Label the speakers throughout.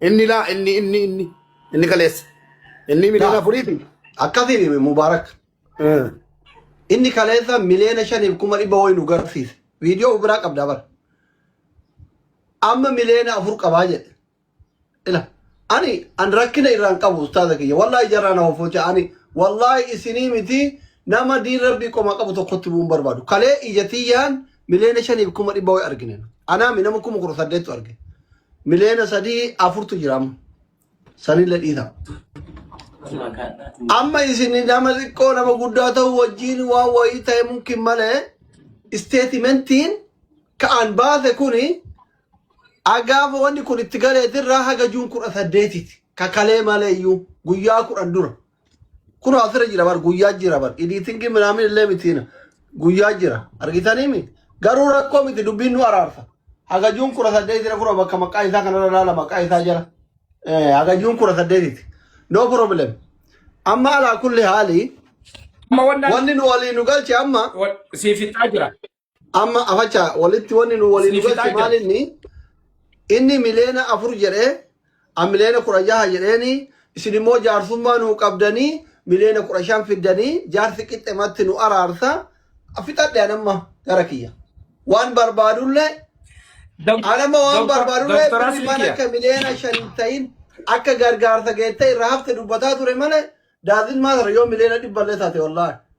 Speaker 1: Inni
Speaker 2: laa inni inni inni inni kaleessa. Inni miliyoona Taa. afurii fi. Akkasii
Speaker 1: Mubaarak. Eh. Inni kaleessa miliyoona shaniif kuma dhibba wayii nu garsiise. Viidiyoo biraa qabdaa bara. Amma miliyoona afur qabaa jedhe. Ila. Ani an rakkina irraan qabu ustaaza kiyya. Wallaahi jarraa na hofocha. Ani wallaahi isinii miti nama diin rabbii qomaa qabu tokkotti bu'uun barbaadu. Kalee ija tiyyaan miliyoona shaniif kuma dhibba wayii argine. Anaami nama kuma kudha saddeettu argine. Miliyoona sadii afurtu jira amma. Sanillee dhiisa. Amma isin nama xiqqoo nama guddaa ta'u wajjin waan wayii ta'e mumkin malee isteetimentiin ka'an baase kuni agaafa wanni kun itti galeetirraa haga juun kudha saddeetiti kakalee malee iyyuu guyyaa kudhan dura. Kun asirra jira bar guyyaa jira bar editingii minaamin illee mitiin guyyaa jira argitanii mi garuu rakkoo miti dubbiin nu araarsa hagajuun kudha saddeetira kura bakka maqaa isaa kanarra ilaala maqaa isaa jala Eh, hagajuun kudha saddeetiti no problem amma alaa kulli haali Amma wannaan wanni nu walii nu galche amma wa- siif fixaa jira.
Speaker 3: Amma afacha
Speaker 1: walitti wanni nu waliin nu Isiniif galche fixaa maal jira. inni inni miliyoona afur jedhee an miliyoona kudha jaha jedheeni isin immoo jaarsummaa nuu qabdanii miliyoona kudha shan fiddanii jaarsi qixxematti nu araarsa fixadhe an amma gara kiyya. Waan barbaadullee Dok- an amma waan Doktor barbaadullee Doktor birri Asli mana kiyya. akka miliyoona shan hin ta'in akka gargaarsa geettee irraa hafte dubbataa ture malee daazin maasara yoo miliyoona dhibballee taate wallaahi.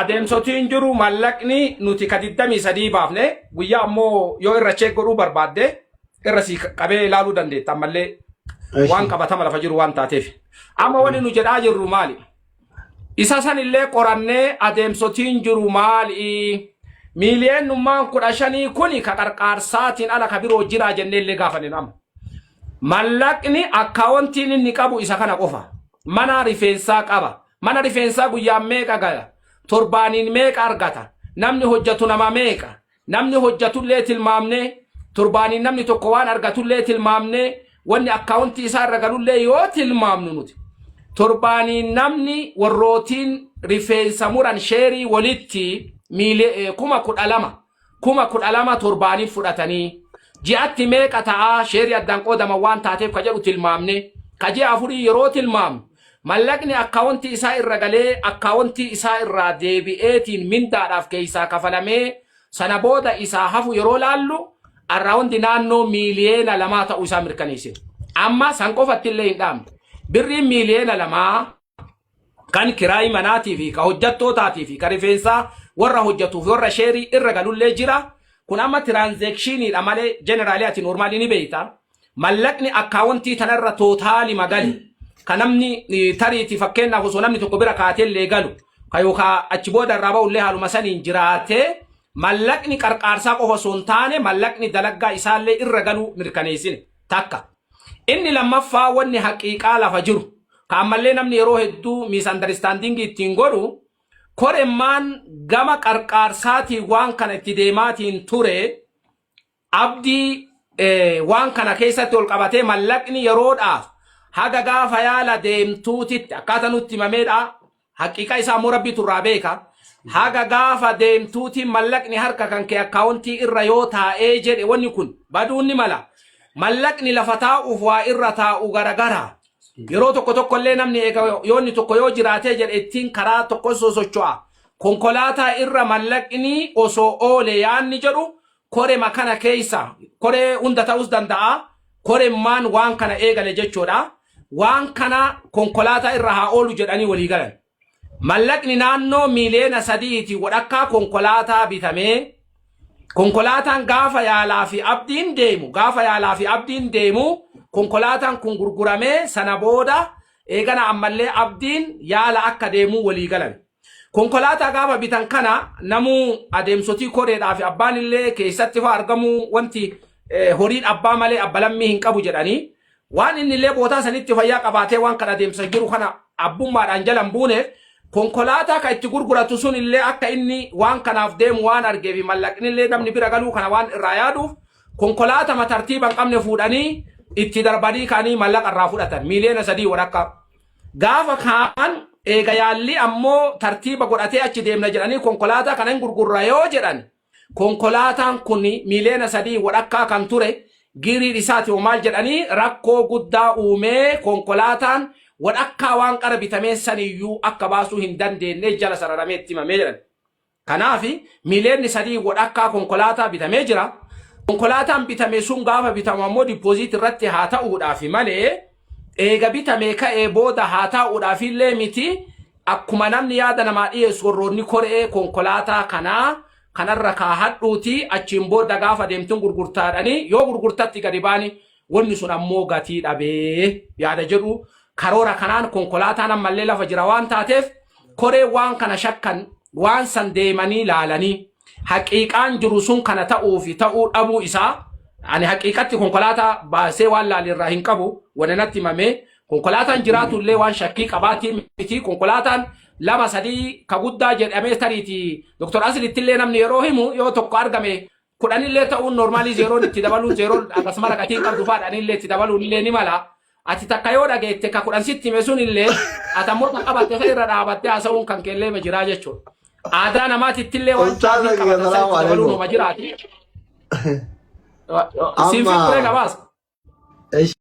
Speaker 3: adeemsotii hin jiru mallaqni nuti ka 23 baafne guyyaa ammoo yoo irra cheek godhuu barbaadde irra si qabee ilaaluu dandeetta ammallee waan qabatama lafa jiru waan taateef. Amma wani nu jedhaa jirru maali? Isa san illee qorannee adeemsotiin jiru maali? Miiliyoonummaan kudha shanii kuni ka qarqaarsaatiin ala ka biroo jiraa jennee illee gaafanne nama. Mallaqni akkaawontiin inni qabu isa kana qofa. Mana rifeensaa qaba. Mana rifeensaa guyyaan meeqa gala? Torbaaniin meeqa argata? Namni hojjatu nama meeqa? Namni hojjatullee tilmaamnee, torbaaniin namni tokko waan argatullee tilmaamnee, wanni akkaawuntii isaa irra galullee yoo tilmaamnu nuti. Torbaaniin namni warrootiin rifeensa muran sheerii walitti miili- eh, kuma kudha lama kuma kudha lama torbaaniif fudhatanii ji'atti meeqa ta'aa sheerii addaan qoodaman waan taateef ka jedhu tilmaamne ka ji'a afurii yeroo tilmaamnu mallaqni akkaawontii isaa irra galee akkaawontii isaa irraa deebi'eetiin mindaadhaaf keessaa kafalamee sana booda isaa hafu yeroo laallu arraawundi naannoo miiliyeena lamaa ta'uu isaa mirkaneessine. Amma san qofatti illee hin dhaamne. Birriin miiliyeena lamaa Kan kiraayii manaatii fi ka hojjattootaatii fi ka rifeensaa warra hojjatuu fi warra sheerii irra galullee jira. Kun amma tiraanzeekshiniidha malee jeneraalii ati noormaalii ni beeyta. Mallaqni akkaawontii tana irra tootaalima gale ka namni eh, tariiti fakkeenyaaf osoo namni tokko bira kaatellee galu ka yookaan achi booda irraa ba'ullee haaluma saniin jiraatee mallaqni qarqaarsaa qofa osoo hin taane mallaqni dalaggaa isaallee irra galuu mirkaneessine takka. Inni lammaffaa wanni haqiiqaa lafa jiru, ka ammallee namni yeroo hedduu miisandaristandingii ittiin godhu, koremmaan gama qarqaarsaatiin waan kana itti deemaatiin ture, abdii waan kana keessatti ol qabatee mallaqni yeroodhaaf haga gaafa yaala deemtuutitti akkaata nutti himameedha. Haqiiqa isaa immoo Rabbiitu irraa beeka. Haga gaafa deemtuuti mallaqni harka kan kee akkaawuntii irra yoo taa'ee jedhe wanni kun baduun ni mala. Mallaqni lafa taa'uuf waa irra taa'u garagara. Yeroo tokko tokko illee namni eega yoonni tokko yoo jiraatee jedhe ittiin karaa tokko sosocho'a. Konkolaataa irra mallaqni osoo oole yaanni jedhu korema kana keessa koree hunda ta'us danda'a koremmaan waan kana eegale jechuudha waan kana konkolaataa irra haa oolu jedhanii walii galan mallaqni naannoo miiliyoona sadiiti wadhakkaa konkolaataa bitamee konkolaataan gaafa yaalaa fi abdiin deemu gaafa yaalaa fi abdiin deemu konkolaataan kun gurguramee sana booda eegana ammallee abdiin yaala akka deemuu walii galan Konkolaataa gaafa bitan kana namuu adeemsotii koreedhaa fi abbaan illee keessatti faa argamuu wanti eh, horiin abbaa malee abba lammii hin qabu jedhanii waan inni illee bootaa sanitti fayyaa qabaatee waan kan adeemsa jiru kana abbummaadhaan jalan buuneef konkolaataa kan itti gurguratu sun illee akka inni waan kanaaf deemu waan argee fi mallaqni illee namni bira galuu kana waan irraa yaaduuf konkolaatama tartiiba hin qabne fuudhanii itti darbanii kaanii mallaqa irraa fudhatan miiliyoona sadii walakkaa. Gaafa kaan eega yaallii ammoo tartiiba godhatee achi deemna jedhanii konkolaataa kana hin gurgurra yoo jedhan konkolaataan kun miiliyoona sadii wadhakkaa kan ture giiriin isaati hoo maal jedhanii rakkoo guddaa uumee konkolaataan wadhakkaa waan qara bitamee saniyyuu akka baasuu hin dandeenye jala sararamee itti himamee jedhan. Kanaaf miiliyoonni sadii wadhakkaa konkolaataa bitamee jira. Konkolaataan bitame sun gaafa bitamu ammoo dippooziit irratti haa ta'uudhaaf malee eega bitamee ka'ee booda haa taa'uudhaaf illee miti akkuma namni yaada namaa dhiyeessu warroonni koree konkolaataa kanaa kanarra kaahadhuuti achiin booda gaafa deemtuun gurgurtaadhanii yoo gurgurtatti gadi baani Wanni sun ammoo gatii dhabee yaada jedhu karoora kanaan konkolaataan ammallee lafa jira waan taateef koree waan kana shakkan waan san deemanii laalanii haqiiqaan jiru sun kana ta'uu fi ta'uu dhabuu isaa ani haqiiqatti konkolaataa baasee waan laalee irraa hin qabu wanni natti himamee konkolaataan jiraatu illee waan shakkii qabaatii miti konkolaataan lama sadii ka guddaa jedhamee tariitii doktor Asilitti illee namni yeroo himu yoo tokko argame kudhan illee ta'uun normaalii zeeroon itti dabaluun zeeroon akkasuma raqatiin qabdu faadha ani illee itti dabaluun illee ni mala. Ati takka yoo dhageette ka kudhan sitti hime sun illee ati ammoo kan qabatte san irra dhaabattee haasa'uun kan keellee ma jiraa jechuudha. Aadaa namaatitti illee waan Ustaaza caatiin kiyya, qabatan salaamu sanitti dabaluun alaikum. homa jiraati. Siin Amma- fikkiree gabaasa. Ish.